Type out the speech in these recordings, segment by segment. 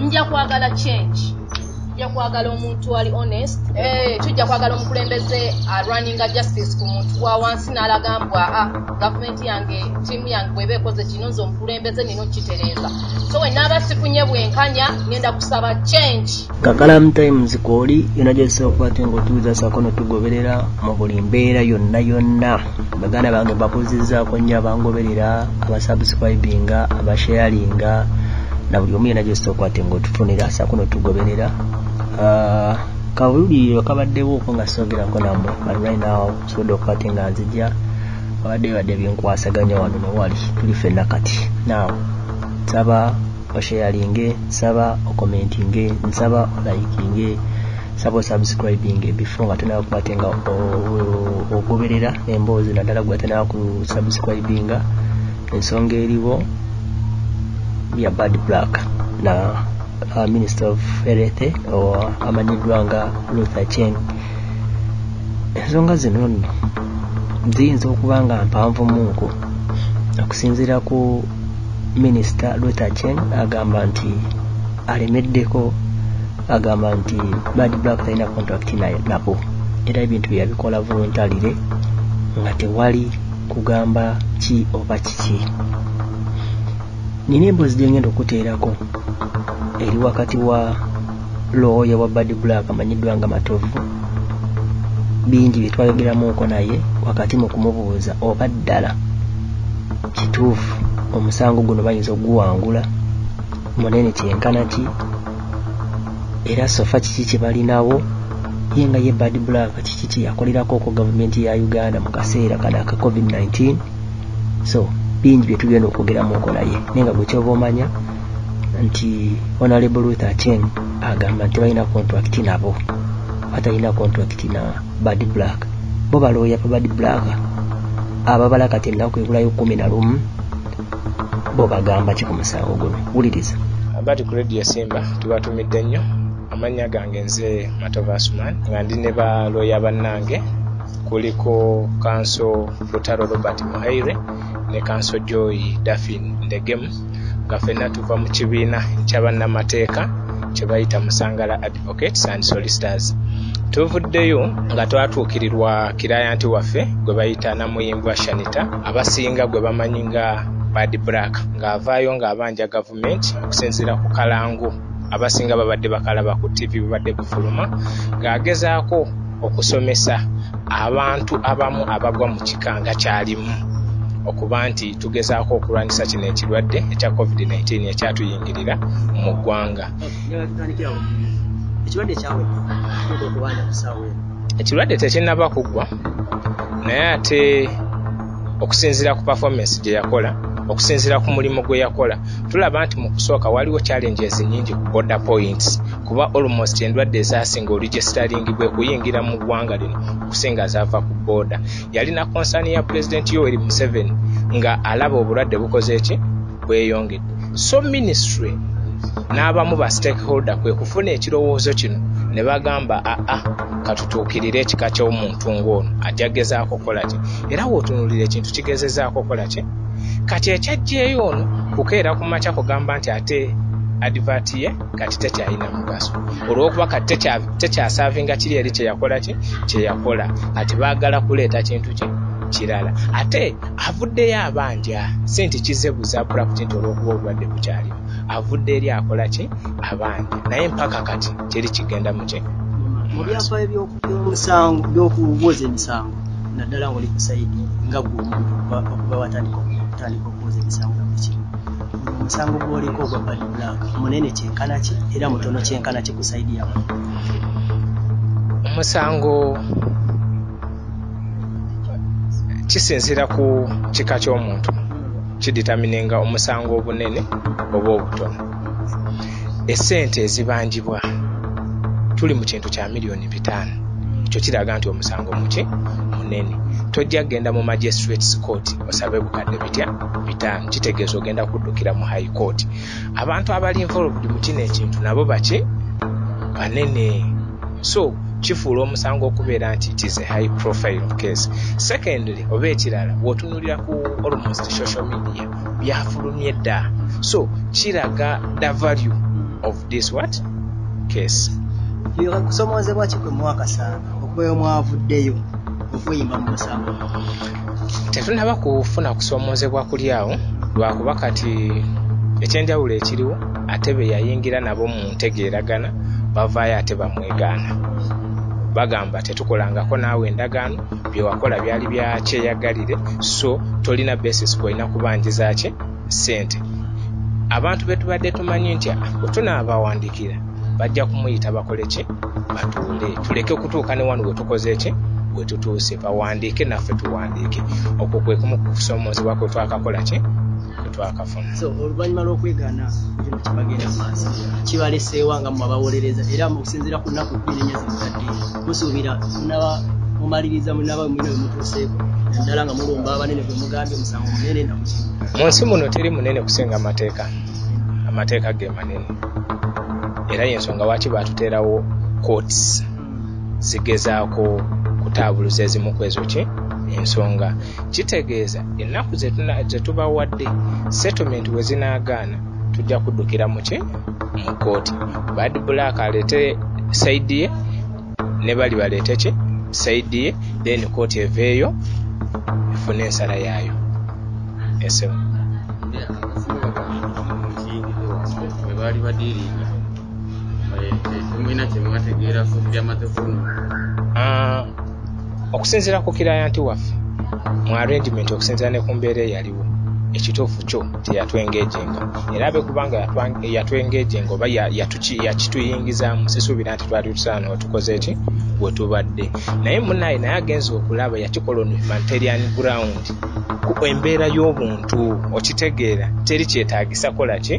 nja kwagala change tujja kwagala omuntu ali honest eh, tujja kwagala omukulembeze arunninga uh, justice ku muntu wa wansi n'alaga mbwa a ah, gavumenti yange tiimu yange bweba ekoze kino nze omukulembeze nina okukitereeza so wenaaba sifunye bwenkanya ngenda kusaba change kakalamu times kwoli yona gyosookwate ngaotuuza sako notugoberera mu buli mbeera yonna yonna baganda bange babuzizaako nnyo abangoberera abasubscribinga abasharinga na buli omu yena gyosobola okwate nga otufunira saako notugoberera ah, kabululiriro kabaddewo ko nga sogerako namwe but right now sobodde okwate nga nzija abadde bibadde binkwasaganya wano newali tuli fenna kati now saba osheyalinge nsaba okomentinge nsaba olayikinge nsaba osubscribinge before nga tonaba kubate nga ogoberera emboozi naddala gwe atanaba ku subscribinga ensonga eriwo ya bad black na uh, minister of health or amanyiddwa nga luther chen ensonga zino nno ziyinza okuba nga mpanvu munku okusinziira ku minisita Luther Chen agamba nti alemeddeko agamba nti Bad Black talina contract nabo era ebintu bye yabikola voluntarily nga tewali kugamba ki oba kiki nina emboozi gye ngenda okuteerako eri wakati wa looya wa bad black amanyiddwa nga matovu bingi bye twayogeramuuko naye wakati mu kumubuuza oba ddala kituufu omusango guno bayinza okuguwangula munene kyenkana ki era sofa kiki kye balinawo ye nga ye bad black kiki kye yakolerako ku gavumenti ya uganda mu kaseera kano aka covid-19 so bingi bye tugenda okwogeramuuko naye naye nga gwe kyoba omanya nti honorable ruth acheng agamba nti balina contract nabo batalina contract na bad black bo balooya pa bad black ababala kati ennaku ebulayo kumi na lumu bo bagamba ki ku musango guno wuliriza abati ku radio simba tubatumidde nnyo amannya gange nze matova asuman nga ndi ne ba looya bannange kuliko kanso lutalo robert muhaire ne kanso joy dafin ndegemu nga fenna tuva mu kibiina kyabannamateeka kyebayita musangala advocates and solicitors tuvuddeyo nga twatuukirirwa kirayanti waffe gwe bayita namuyimbwa shanita abasinga gwe bamanyi nga bad black ng'avaayo ng'abanja gavumenti okusinziira ku kalango abasinga babadde bakalaba ku ttivi bubadde bufuluma ng'agezaako okusomesa abantu abamu abagwa mu kika nga kyalimu okuba nti tugezaako okulwanyisa kino ekirwadde ekya covid-19 ekyatuyingirira mu ggwanga ekirwadde tekinnaba kuggwa naye ate okusinziira ku performance gye yakola okusinziira ku mulimu gwe yakola tulaba nti mu kusooka waliwo challenges nyingi ku border points kuba almost endwadde ezasinga olujesitaringibwa kuyingira mu ggwanga lino okusinga zaava ku booda yalina konsani ya pulezidenti yoweri museveni nga alaba obulwadde bukoze ki bweyongedde so ministry n'abamu ba stakeholder kwe kufuna ekirowoozo kino ne bagamba aa ah, ah, katutuukirire ekika ky'omuntu ng'ono ajja gezaako okukola ki era wootunulira ekintu kigezezaako okukola ki kati ekyajjeeyo ono kukeera ku makya kugamba nti ate adivati ye kati tekyalina mugaso olwokuba kati tekyasavinga kiri eri kyeyakola ki kyeyakola kati baagala kuleeta kintu ki kirala ate avuddeyo abanja si nti kize buza pulakiti nti olwokuba obulwadde bukyaliwo avudde eri akola ki abanja naye mpaka kati teri kigenda muki mu byafaayo byomusango byokuwoza emisango naddala ngaoli kusaidi nga gwe omuntu okuba watandika okutandika okuwoza emisango nakukimu omusango gwoliko ogwa nanga munene kyenkana ki era mutono kyenkana ki ku saidi yamwe omusango kisinzira ku kika ky'omuntu kiditamininga omusango obunene oba obutono esente ezibanjibwa tuli mu kintu kya miliyoni bitaano ekyo kiraga nti omusango muki munene tojja kugenda mu magistrates court musabe bukadde bitya bitaano kitegeeza ogenda kuddukira mu high court abantu abali involved mu kino ekintu nabo baki banene so kifuula omusango okubeera nti it is a high profile case secondly oba ekirala wotunulira ku almost social media byafulumye dda so kiraga the value of this what case kusomozebwa ki kwe mwakasanga okubeera omwavuddeyo okuyimba mu musango tetunaba kufuna kusoomoozebwa kuli awo lwakuba kati ekyenjawulo ekiriwo ate be yayingira nabo mu ntegeeragana bavaayo ate bamwegaana bagamba tetukolangako naawe endagaano byewakola byali bya kyeyagalire so tolina basis kwolina kubanjizaki ssente abantu betubadde tumanyi nti wetunaabawandiikira bajja kumuyita bakole ki batuule tuleke kutuuka ne wano wetukoze ki wetutuuse bawandiike naffe tuwandiike okwo kwe kumu kukusoomoozebwa kwe twakakola ki twakafuna so oluvannyuma lw'okwegaana kino kibagenda maaso kibaleseewa nga mwe abawolereza era mukusinziira ku nnaku bbiri nnya zimutadde musuubira munaba mumaliriza munaba mwina wemutuuseeko naddala nga mulumba abanene gwe mugambye omusango munene na mu nsi muno teri munene kusinga amateeka amateeka ge manene era yensonga lwaki baatuteerawo courts zigezaako kutaabuluza ezimu ku ezo ki ensonga kitegeeza ennaku zetubawadde settlement we zinaagaana tujja kuddukira muki mu kooti bad black aleete saidi ye ne bali baleete ki saidi ye then kooti eveeyo efune ensala yaayo esemu baali badiringa Ah, okusinziira ku kirayanti waffe mu arrangement okusinziira ne ku mbeera eyaliwo ekituufu kyo teyatwengejenga era abe kubanga yatwengejenga oba yakituyingizaamu sisuubira nti twali tusaana otukoze ki we tubadde naye munaye naye agenza okulaba yakikola on humanitarian ground ku embeera y'obuntu okitegeera teri kyetaagisa kola ki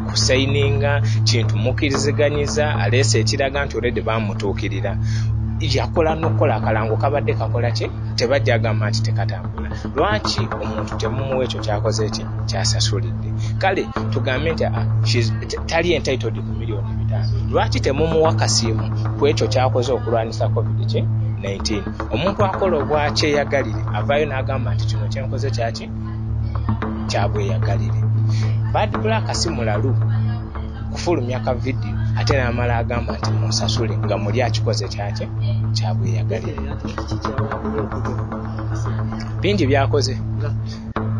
kusayininga kintu mukiriziganyiza aleese ekiraga nti olede bamutuukirira yakola nokukola akalango kabadde kakola ki tebajja agamba nti tekatambula lwaki omuntu temumuwa ekyo kyakoze ki kyasasulidde kale tugambe nti ah, tali entitled ku miliyoni bitaano lwaki temumuwa kasiimu ku ekyo kyakoze okulwanyisa covid ki 19 omuntu akola obwakyeyagalire avaayo n'agamba nti kino kyenkoze kyaki kyabweyagalire bad black si mulalu kufulumya ka vidiyo ate namala agamba nti munsasule nga muli akikoze kyakye kyabweyagalire bingi byakoze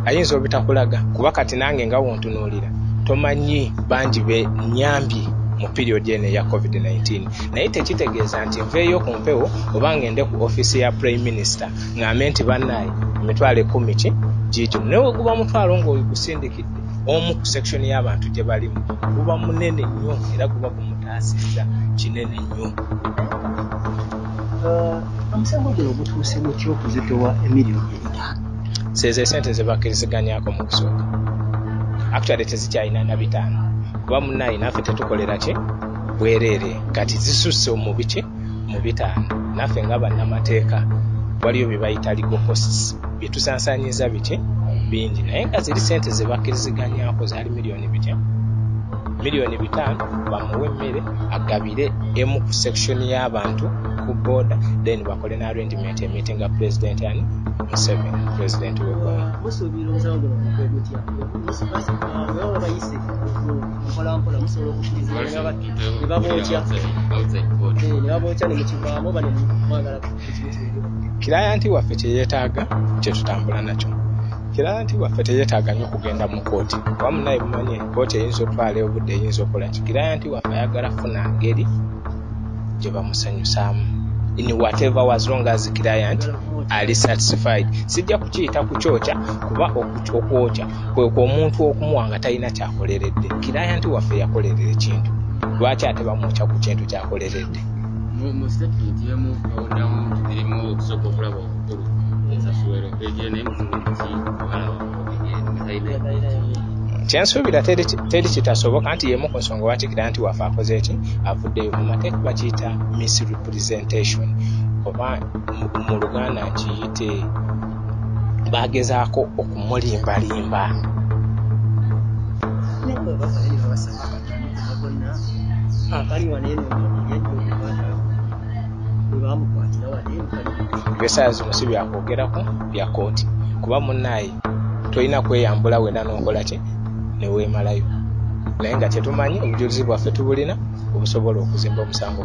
ayinza obitakulaga kuba kati nange nga wontunuulira tomanyi bangi be nyambye mu period eno eya covid-19 naye tekitegeeza nti nveeyo ku mpewo oba ngende ku ofiisi ya prime minister ŋambe nti banaye emitwalo ekumi ki giigimu naye weguba omutwalo ngaogusindikidde omu ku section y'abantu gye balimu guba munene nnyo era guba gumutaasizza kinene nnyo uh, omusango guno gutuuse mutya okuzitowa emiliyoni ebitaano seezo esente zebakkiriziganyako mu kusooka actually tezikyalina na bitaano kuba munaye naffe tetukolera ki bwereere kati zisusse omubiki mu bitaano naffe nga bannamateeka waliyo bye bayita legal costs bye tusansanyiza biki bingi naye nga ziri sente ze bakkiriziganyako zaali miliyoni bitya miliyoni bitaano bamuwe emmere agabire emu ku section y'abantu ku boda then bakole ne arrangement emiti nga president ani museveni president wegwanga mpolampola musobola okukirizibwa ne babookya eh, ne babookya ne mukivaamu oba ne mwagala kilayanti waffe kye yeetaaga kye tutambula nakyo kilayanti waffe teyeetaaga nnyo kugenda mu kooti kuba munaye bumanye kooti eyinza otwala obudde eyinza okola ki kilayanti waffe ayagala funa ngeri gye bamusanyusaamu in whatever was long as client ali satisfied sijja kukiyita kukyokya kuba okwokya kwekwo omuntu okumuwa nga talina kyakoleredde kirayanti waffe yakolerera ekintu lwaki ate bamwokya ku kintu kyakoleredde kyensuubira teri kitasoboka nti yemu ku nsonga lwaki kirayanti waffe akoze eki avuddeyo mu mateeka bakiyita misrepresentation oba mu luganda nkiyite baagezaako okumulimbalimba byosaya zino si byakwogerako bya kooti kuba munaaye tolina kweyambula wena nokola ki neweemalayo naye nga kyetumanyi obujulizi bwaffe tubulina obusobola okuzimba omusango